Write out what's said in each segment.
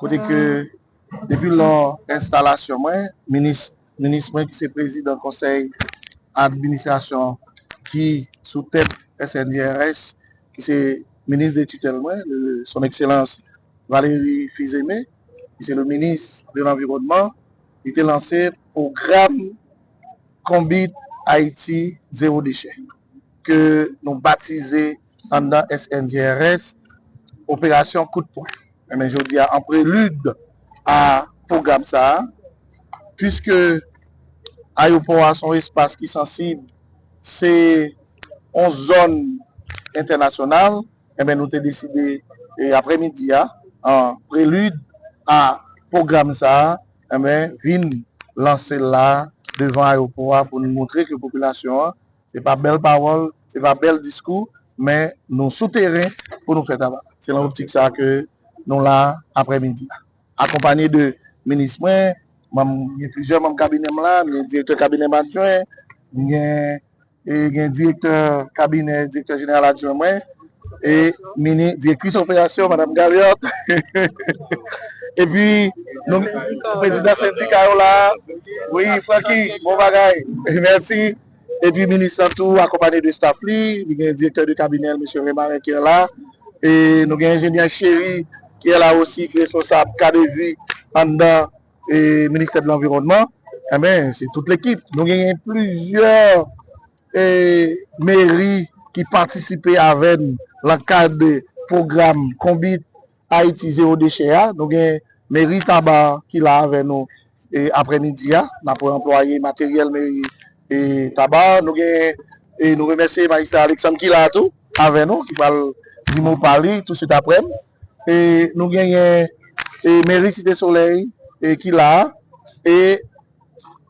Kote ke depi lò enstalasyon mwen, minis mwen ki se prezidan konsèy administrasyon ki sou tèt SNJRS, ki se minis de titèl mwen, son ekselans Valéry Fils-Aimé, ki se le minis de lanviwònman, li te lanse pwogram Konbit Ayiti Zewo Dechè, ke nou batize. anndan SNGRS, operasyon kout pwen. Enben jodi a an prelid a pwogram sa, puiske ayopò a se yon espas ki sansib, se yon zòn entènasyonal, enben nou te deside aprè midi a an prelid a pwogram sa enben vin lanse l la devan ayopò a pou nou montre ke popilasyon an Se pa bèl pawòl, se pa bèl diskou, men nou sou teren pou nou fè travay la. Se nan optik sa a ke nou la aprè midi a. Akonpanye de minis mwen, manm, gen plizyè manm kabinè m la, m gen direktè kabinè m adjwen, m gen, e gen direktè kabinè direktè jeneral adjwen mwen, e mini, direktris operasyon madam Galliot, epi nou, prezidan sendika yo la a, wi Francky, bon bagay, mèsi. Epi minis lan tou akonpanye de staf li, li gen direktè de kabinè l Mesye Remarin ki la, e nou gen enjenyè Chery ki la osi ki responsab kadevi anndan ministè de lanviwònman. Enben se tout lekip. Nou genyen plizyè meri ki patisipe avè n lan kad de pwogram konbit Ayiti zewo dechè a, nou gen meri Taba ki la avè nou aprè midi a, n ap anplwaye materyèl meri Taba, nou gen e nou remèsye majistra Aleksann ki la tou avè nou ki pral di mo pa li touswit aprè m e nou genyen e meri Site Solèy e ki la e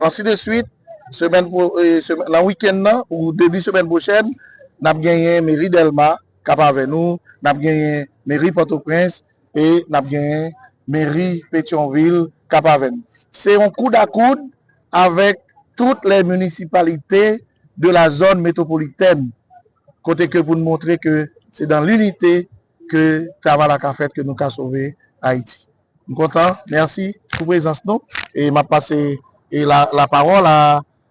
ansi de swit semèn nan wikenn nan ou debi semèn pwochèn n ap genyen meri Dèlma Kap avè nou, n ap genyen meri Pòtoprens e n ap genyen meri Petyonvil kap avè n. Se yon koud a koud avèk tout lè minisipalite de la zòn metwopolitèn kote ke pou n montre ke se dan linite ke travay la ka fèt ke nou ka sove Ayiti. M kontan, mèsi pou prezans nou e m ap pase lapawòl a.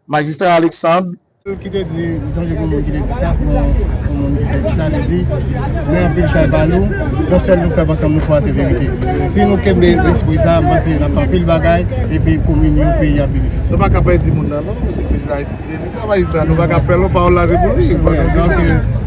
Majistra Alexandre. Ki te di, m sonje gen yon moun ki te di sa, yon moun ki te di sa, li di, Mwen anpil chay ba nou, yon sèl nou fèm ansanm nou fò a se verite. Si nou kenbe lespri sa a, m panse n ap fè anpil bagay epi komin yo, peyi a ap benefisye. Nou pa ka pèdi moun nan non, se prezidan Ayisyen ki te di sa, majistra, nou pa ka pè l non, pawòl la se pou li, fò nou di sa.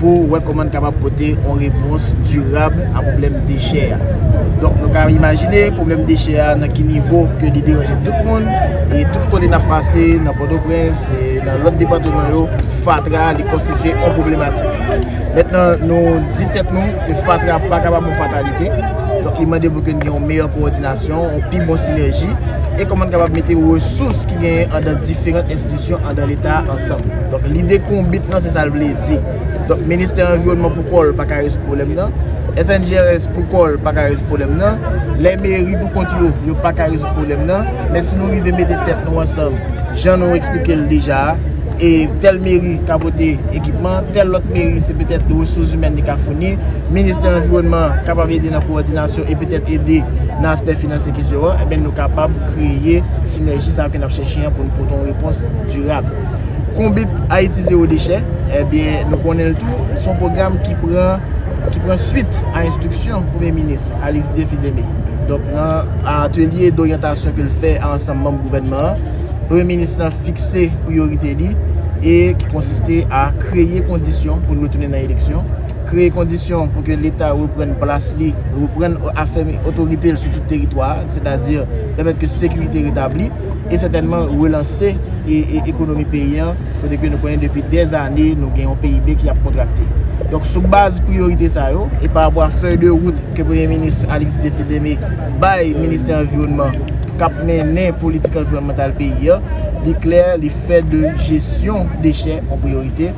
pou wè kòman n kapab pote yon repons dirab a pwoblèm dechè a. Donk nou ka imajine pwoblèm dechè a nan ki nivo ke li deranje tout moun, e tout kote n ap pase nan Pòtoprens e nan lòt depatman yo, fatra li konstitye yon pwoblematik. Mentnan nou di tèt nou ke fatra pa kapab yon fatalite, donk li mande pou ke n gen yon meyè kowòdinasyon, yon pi bon sinèji, e kòman n kapab mete resous ki genyen andan diferant enstitisyon. Syon andan leta a ansanm. Donk lide konbit lan se sa l vle di. Donk ministè anviwònman pou kò l pa ka rezoud pwoblèm nan. SNGRS pou kò l pa ka rezoud pwoblèm nan. Lè meri pou kont yo, yo pa ka rezoud pwoblèm nan. Men si nou rive mete tèt nou ansanm, jan nou eksplike l deja a, e tèl meri ka pote ekipman, tèl lòt meri se petèt resouzimèn li ka founi, ministè anviwònman an kapab ede nan kowòdinasyon e petèt ede nan aspè finansye kesyon an, enben nou kapab kreye sinèji sa yo ke n ap chèche. Chen an pou n pote yon repons dirab. Konbit Ayiti Zewo Dechè, enbyen nou konnen l tou, s on pwogram ki pran ki pran swit a enstriksyon Premye Minis Alicdieu Fils-Aimé. Donk nan atelye doryantasyon ke l fè a ansanm manm gouvènman an, Premye Minis lan fikse priyorite li e ki konsiste a kreye kondisyon pou n retounen nan eleksyon, kreye kondisyon pou ke Leta reprann plas li, reprann afèmi otorite l sou tout teritwa a, sètadi pèmèt ke sekirite retabli. e sètènman relanse ekonomi peyi an, kote ke nou konnen depi dè zane nou gen yon PIB ki ap kontrakte. Donk sou baz priyorite sa yo, e pa rapò a fèy de wout ke Premye Minis Alix Didier Fils-Aimé bay Ministè Anviwònman k ap mennen politik anviwònmantal peyi an, li klè li fè de jesyon dechè yon priyorite.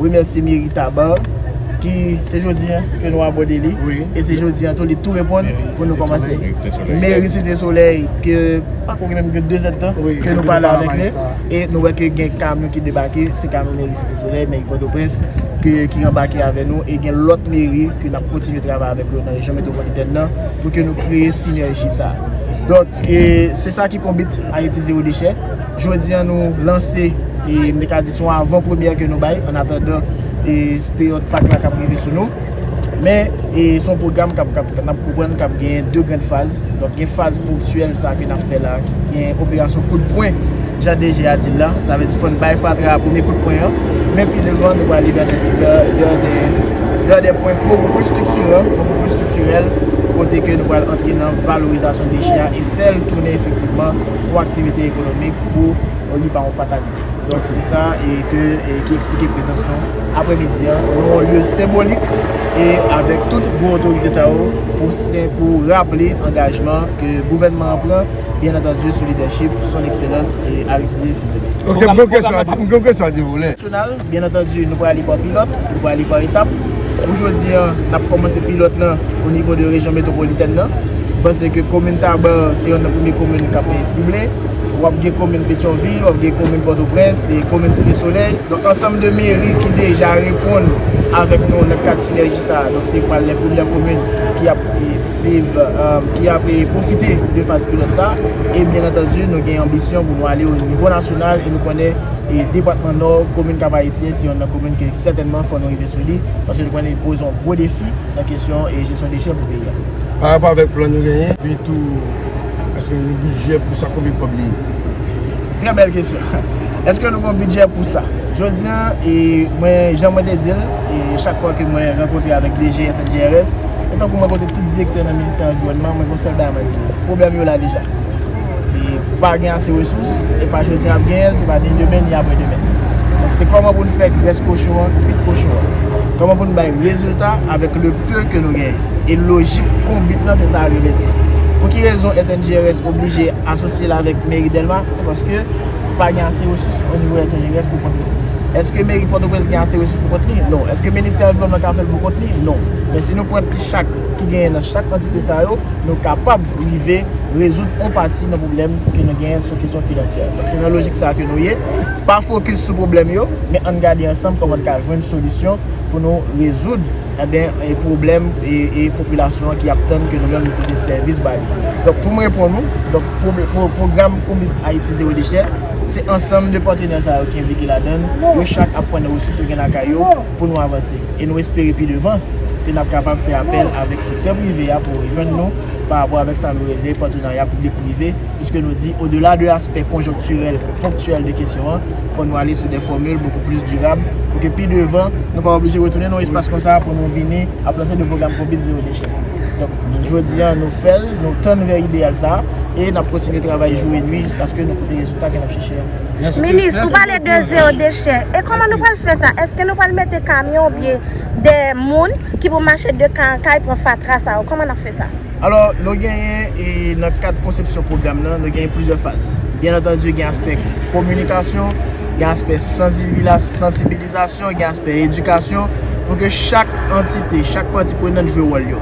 remèsye meri Tabarre ki se jodi an ke nou abòde li e se jodi an tou li tou reponn pou nou kòmanse meri Site Solèy ke pa koke menm gen 2 zèd tan ke nou pale avèk li e nou wè ke gen kamyon ki debake se kamyon meri Site Solèy, meri Pòtoprens ki anbake avè nou e gen lòt meri ke nap kontinye travay avèk yo nan rejyon metropolitèn nan pou ke nou kreye sinèji sa donk e se sa ki konbit Ayiti Zero Déchet. Jodi an nou lanse, e m te ka di se yon avan premyè ke nou bay an atandan peryòd pak la kap rive sou nou. Men, se yon pwogram kap, n ap konprann kap genyen 2 grand faz. Donk gen faz ponktyèl sa ke n ap fè la, ki gen operasyon kout pwen, jan DG a di l la. Sa vle di fò n bay fatra a premye kout pwen an. Men pi devan nou prale vè de, vè de, vè de pwen bokou plis striktiran, bokou plis striktirèl, kote ke nou pral antre nan valorizasyon dechè a e fè l tounen efektivman. pou aktivite ekonomik pou li pa yon fatalite. Donk se sa e ke ki eksplike prezans nou apre midi an nan yon lye senbolik e avèk tout gwo otorite sa yo pou se pou raple angajman ke gouvènman an pran byen antandu sou lidèchip son ekselans Aristide Fils-Aimé. Ok m gen yon kesyon a 2 volè. Byen antandi nou prale pa pilòt, nou prale pa etap. Pou jodi an, n ap kòmanse pilòt lan o nivo de rejyon metwopolitèn nan. Nou panse ke komin Taba se yonn nan premye komin k ap sible. W ap gen komin Petyonvil, w ap gen komin Pòtoprens, komin Site Solèy. Donk ansanm de meri ki deja reponn avèk nou nan kad sinèji sa a. Donk se pral lè premyè komin ki ap viv, ki ap pwofite de faz pilòt sa a. E byen antandi nou gen anbisyon pou nou ale o nivo nasyonal e nou konnen. Depatman Nò, komin Kap Ayisyen se yonn nan komin ke sètènman fò nou rive sou li, paske nou konnen li poze yon gwo defi nan kesyon jesyon dechè pou peyi a. Parapò avèk plan nou genyen, epi tou èske nou gen bidjè pou sa, konbyen kòb li ye? Trè bèl kesyon. Èske nou gen yon bidjè pou sa? Jodi a, mwen, jan mwen te di l, chak fwa ke mwen rankontre avèk DG SNGRS, e tankou m rankontre tout direktè nan ministè anviwònman, mwen gen yon sèl bagay mwen di nou, pwoblèm yo la deja. e pou pa gen ase resous e pa jodi nap genyen l se pa ni demen ni aprè demen donk se kòman pou n fè grès kochon an kwit kochon an kòman pou n bay rezilta avèk le peu ke nou genyen e lojik konbit lan se sa a li vle di pou ki rezon SNGRS oblije asosye l avèk meri Dèlma se paske pa gen ase resous o nivo SNGRS pou kont li èske meri Pòtoprens gen ase resous pou kont li non èske ministè anviwònman ka fè l pou kont li non men si nou pran ti chak ki genyen nan chak antite sa yo nou kapab. rive rezoud on pati nan pwoblèm ke nou genyen sou kesyon finansyè. Donk se nan lojik sa a ke nou ye, pa fokis sou pwoblèm yo, men ann gade ansanm kòman n ka jwenn solisyon pou nou rezoud enben pwoblèm e popilasyon an ki ap tann ke nou menm nou pote sèvis ba li. Donk pou m reponn ou, donk pwogram Omip Ayiti Zewo Dechè, se ansanm de patenè sa yo ki enplike ladan l, yo chak ap pran nan resous yo gen lakay yo, pou nou avanse e nou espere pi devan ke nap kapab fè apèl avèk sektè prive a pou rejwenn nou pa rapò avèk sa nou rele patrenarya piblik prive puiske nou di odela de aspè konjonktirèl ponktyèl de kesyon an fò nou ale sou dè fòmil bokou plis dirab pou ke pi devan nou pa oblije retounen nan yon espas konsa pou nou vini ap lanse de pwogram konbit zewo dechè donk jodi an nou fèl nou tann vè ideyal sa e nap kontinye travay jou e nwi jiskaske nou pote rezilta ke nap chèche a. Minis ou pale de zero dechè e koman nou pral fè sa eske nou pral mete kamyon ou byen de moun ki pou mache de kay an kay pran fatra sa yo koman nap fè sa. Alò nou genyen e nan kad konsepsyon pwogram nan nou genyen plizyè faz byen antandi gen aspè kominikasyon gen aspè sansibilize. Sansibilizasyon gen aspè edikasyon pou ke chak antite, chak pati prenant jwe wòl yo.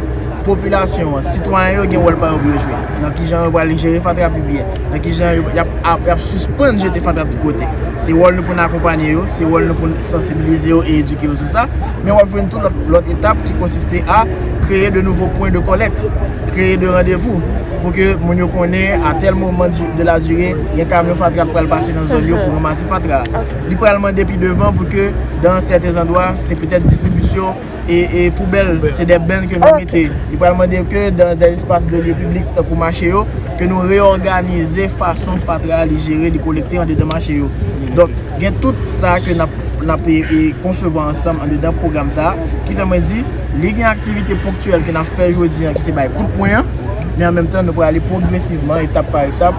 Popilasyon an, sitwayen yo gen wòl pa yo pou yo jwe. Nan ki jan yo pral jere fatra pi byen, nan ki jan y ap sispann jete fatra tout kote. Se wòl nou pou n akonpanye yo, se wòl nou pou n sansibilize yo e edike yo sou sa. Men w ap jwenn tou lòt etap ki konsiste a kreye de nouvo pwen de kòlèkt, kreye de randevou pou ke moun yo konnen a tèl moman de la dire gen kamyon fatra k pral pase nan zòn yo pou ranmase fatra a. Li pral mande pi devan pou ke dan sèten zandwa se petèt distribisyon e poubèl, se dè bènn ke nou mete. Li pral mande ke dan dè espas de lye piblik tankou mache yo, ke nou reòganize fason fatra a li jere, li kolekte andedan mache yo. Donk, gen tout sa ke n ap konsevwa ansanm andedan pwogram sa a, ki fè mwen di, li gen aktivite ponktyèl ke n ap fè jodi an ki se bay kout pwen an, men an menm tan nou pral ale pwogresivman, etap pa etap,